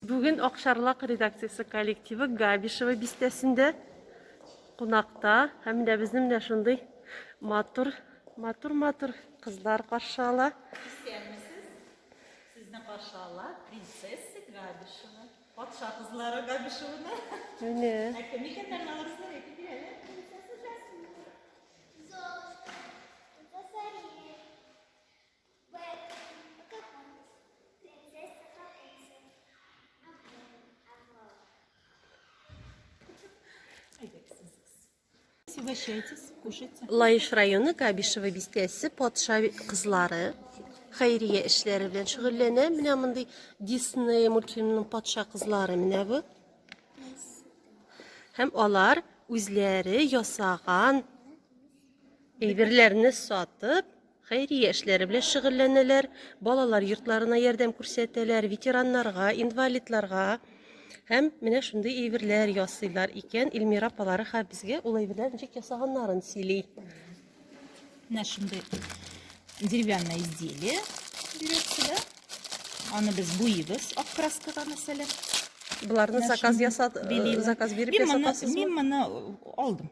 Бүген Акчарлак редакциясе коллективы Габишево бистәсендә кунакта. Һәм менә безне менә шундый матур, матур, матур кызлар каршы ала. Сезне каршы ала принцесса Габишева. Патша кызлары Габишеваны. Менә. Ә кем икәннәр алар сезгә әйтеп бирәләр? Угощайтесь, кушайте. Лаеш районы Кабишево бистәсе патша кызлары хәйрия эшләре белән шөгыльләнә. Менә мондый Дисней мультфильмының патша кызлары менә бу. Һәм алар үзләре ясаган Әйберләрне сатып, хәйрия эшләре белән шөгыльләнәләр, балалар йортларына ярдәм күрсәтәләр, ветераннарга, инвалидларга һәм менә шундый әйберләр ясыйлар икән. Эльмира апалары хәзер безгә ул әйберләр ничек ясаганнарын сөйли. Менә шундый деревянное изделие бирәсе дә. Аны без буйыбыз ак краскага мәсәлән. Боларны заказ ясат, э, заказ биреп ясатасызмы? Мин моны алдым.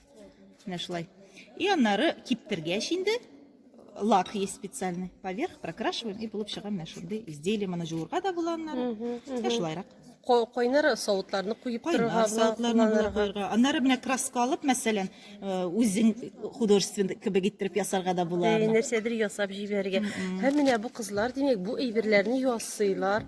Менә шулай. И аннары киптергәч инде лак есть специальный. Поверх прокрашиваем и булып чыга менә шундый изделие. Моны җуырга да була аннары. Менә шулайрак. Кайнар савытларны куеп торырга, савытларны була куярга. Аннары менә краска алып, мәсәлән, э, үзең художественный кебек иттереп ясарга да була. Нәрсәдер ясап җибәрергә. Һәм менә бу кызлар, димәк, бу әйберләрне ясыйлар.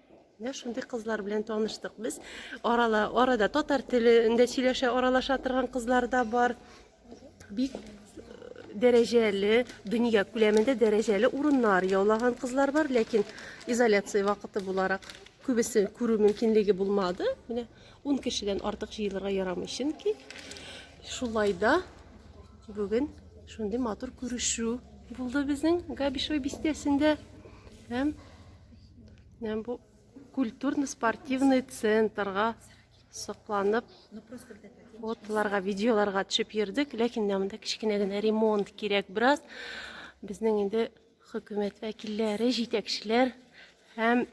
Менә шундый кызлар белән таныштык без. Арала, арада татар телендә сөйләшә, аралаша торган кызлар да бар. Бик э, дәрәҗәле, дөнья күләмендә дәрәҗәле урыннар яулаган кызлар бар, ләкин изоляция вакыты буларак күбесе күрү мөмкинлеге булмады. Менә 10 кешедән артык җыелырга ярамый, чөнки шулай да бүген шундый матур күрешү булды безнең Габишево бистәсендә. Һәм Менә бу культурно-спортивный центрга сокланып фотоларга, видеоларга төшеп йөрдек, ләкин монда кечкенә генә ремонт кирәк бераз. Безнең инде хөкүмәт вәкилләре, җитәкчеләр һәм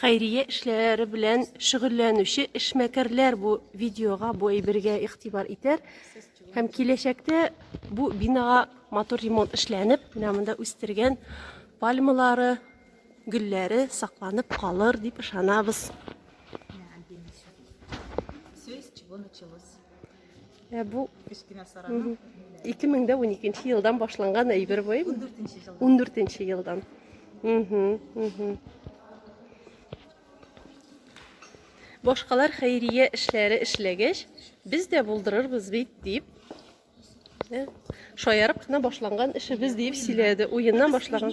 хәйрия эшләре белән шөгыльләнүче эшмәкәрләр бу видеога, бу әйбергә игътибар итәр. Һәм киләчәктә бу бинага матур ремонт эшләнеп, менә монда үстергән пальмалары, Гөлләре сакланып калыр дип ышанабыз. Ә бу 2012 елдан башланган әйбер бу. 14 елдан. Башкалар хәйрия эшләре эшләгәч, без дә булдырырбыз бит дип Шаярып кына башланган эшебез дип сөйләде. Уеннан башлаган.